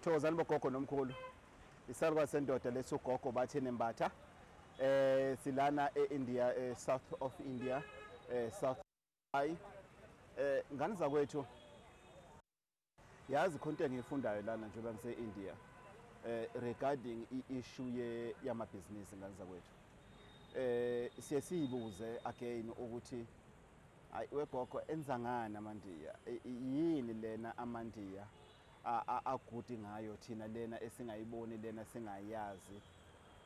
Thokozani bogogo nomkhulu. Isalukwazi sendoda lesi ugogo bathe nembatha. Eh silana eIndia eh, south of India eh south high. Eh ngani zakwethu. Yazi khonto engiyifundayo lana njengoba ngise India. Eh regarding iissue ye yamabhizinisi ngani zakwethu. Eh siye siyibuze again ukuthi Ayi wegogo enzangani amandiya yini lena amandiya aguti ngayo thina lena esingayiboni lena singayazi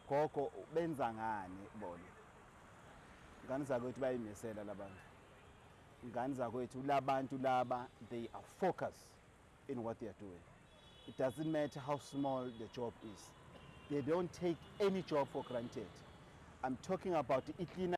gogo benza ngani bona ngani zakwethu bayimisela labantu ngani zakwethu labantu laba they are focused in what they are doing it doesn't matter how small the job is they don't take any job for granted i'm talking about iklina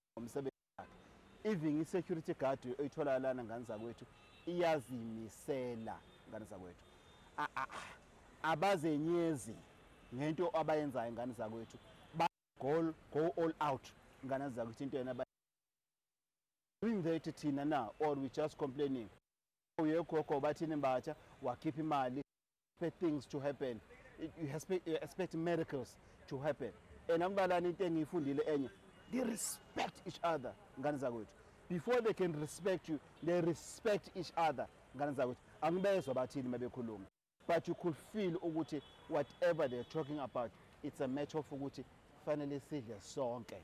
ngomsebenzi wakhe even i-security guard oyithola lana ngane zakwethu iyazimisela ngane zakwethu abazenyezi ngento abayenzayo ngane zakwethu ba go go all out ngane zakwethu into yena doing that thina na or we just complaining uyegogo bathini mbatha wakhipha imali expect things to happen you expect, you expect miracles to happen and ambalani into engiyifundile enye they respect each other ngane zakwethu before they can respect you they respect each other ngane zakwethu angibezwa bathini mabekhuluma but you could feel ukuthi whatever they're talking about it's a matter of ukuthi fanele sidle sonke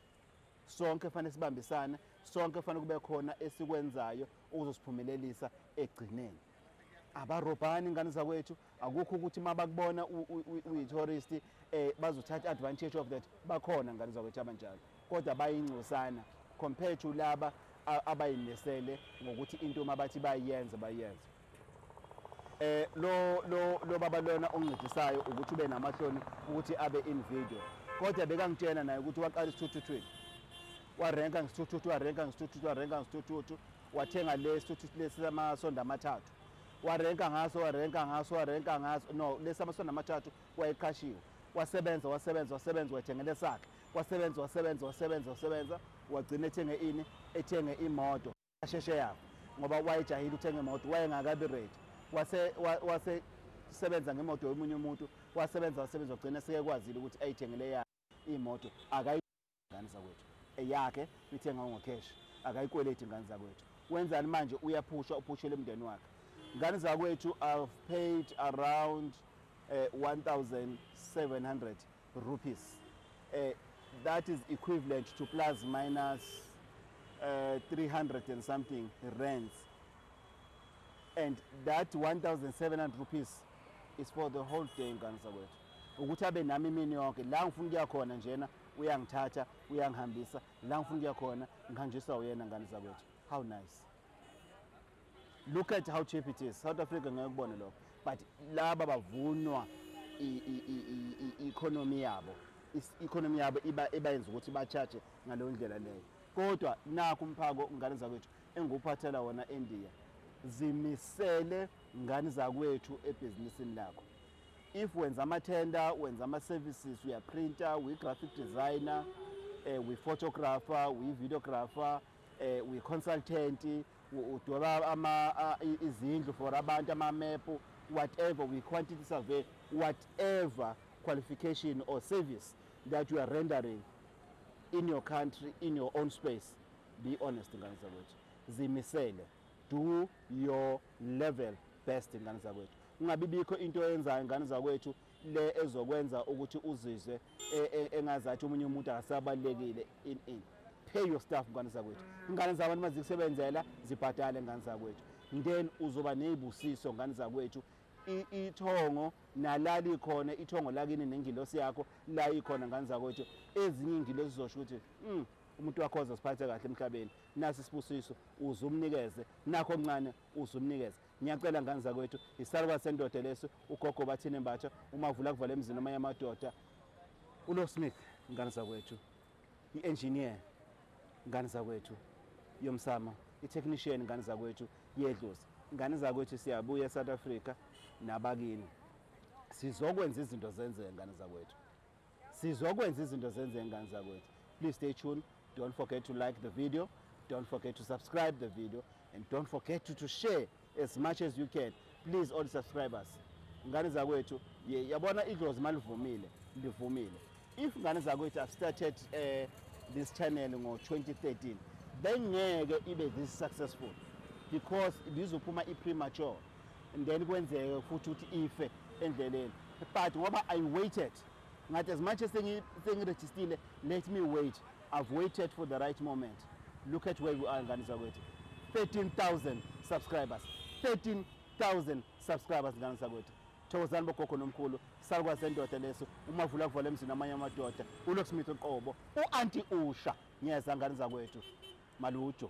sonke fanele sibambisane sonke fanele kube khona esikwenzayo ukuzosiphumelelisa egcineni abarobhani ingane zakwethu akukho ukuthi uma bakubona uyi-tourist um eh, bazothatha advantage of that bakhona ngane zakwethu abanjalo kodwa bayingcosana compared to laba abayinesele ngokuthi into uma bathi bayenze bayenze eh lo lo lo baba lona oncedisayo ukuthi ube namahloni ukuthi abe in video kodwa bekangitshena naye ukuthi waqala isithuthuthu warenka ngisithuthuthu warenka ngisithuthuthu warenka ngisithuthuthu wathenga lesi uthi lesi samasondo amathathu warenka ngaso warenka ngaso warenka ngaso no lesi samasondo amathathu wayeqashiwe wasebenza wasebenza wasebenza wathengela esakhe wasebenza wasebenza wasebenza wasebenza wagcina ethenge ini ethenge imoto asheshe yabo ngoba wayejahile uthenga imoto wayengakabi ready wase wase sebenza ngemoto yomunye umuntu wasebenza wasebenza wagcina seyekwazile ukuthi ayithengele yakhe imoto akayi Ngane zakwethu eyakhe uyithenga ungocash akayikweleti ngane zakwethu wenzani manje uyaphushwa uphushele umndeni wakhe ngane zakwethu i've paid around uh, eh, 1700 rupees uh, that is equivalent to plus minus uh, eh, 300 and something rands and that 1700 rupees is for the whole day ngane zakwethu ukuthi abe nami imini yonke la ngifuna ukuya khona njena uyangithatha uyangihambisa la ngifuna ukuya khona ngihanjiswa uyena ngane zakwethu how nice look at how cheap it is south africa ngeke kubone lokho but laba bavunwa i-economy yabo i-economy yabo ibayenza ukuthi ba-charge ngaleyo ndlela leyo kodwa nakho umphako ngane zakwethu enguphathela wona endiya zimisele ngane zakwethu ebhizinisini lakho if wenza amathenda wenza ama-services uyaprinta uyi-graphic designer um uyi-photographer uyi-videographer um uyi-consultant udweba izindlu for abantu amamepu whatever uyi-quantity survey whatever qualification or service that you are rendering in your country in your own space be honest ngane zakwethu zimisele do your level best ngane zakwethu ungabibikho into oyenzayo ngane zakwethu le ezokwenza ukuthi uzizwe e, e, engazathi omunye umuntu akasabalekile in in pay your staff ngane zakwethu ingane zabantu mazikusebenzela zibhadale ngane zakwethu then uzoba nezibusiso ngane zakwethu ithongo nalali khona ithongo lakini nengilosi yakho la ikhona ngane zakwethu ezinye ingilosi zizosho ukuthi mm, umuntu wakho ozosiphatha kahle emhlabeni nasi isibusiso uze umnikeze nakho okuncane uze umnikeze ngiyacela ngane zakwethu isalukazi sendoda lesi ugogo bathini mbatha umavula kuvala emzini amanye amadoda ulo smith ngane zakwethu i-engineer ngane zakwethu yomsama i-technician ngane zakwethu yedlozi ngane zakwethu siyabuya esouth africa nabakini sizokwenza izinto zenzeke ngane zakwethu sizokwenza izinto zenzeke ngane zakwethu please stay tuned don't forget to like the video don't forget to subscribe the video and don't forget to, to share as much as you can please all subscribers ngane zakwethu yabona idlozi malivumile livumile if ngane zakwethu have started uh, this channel ngo-2013 bengeke ibe this successful because lizophuma i-premature and then kwenzeke futhi ukuthi ife endleleni but ngoba i waited ngathi as much as sengirejistile let me wait i've waited for the right moment look at where we are ngane zakwethu 13000 subscribers 13000 subscribers ngane zakwethu thokozani bogogo nomkhulu salukwa sendoda leso umavula kuvale emzini amanye amadoda ulocksmith uqobo u-anti usha ngiyeza ngane zakwethu malujo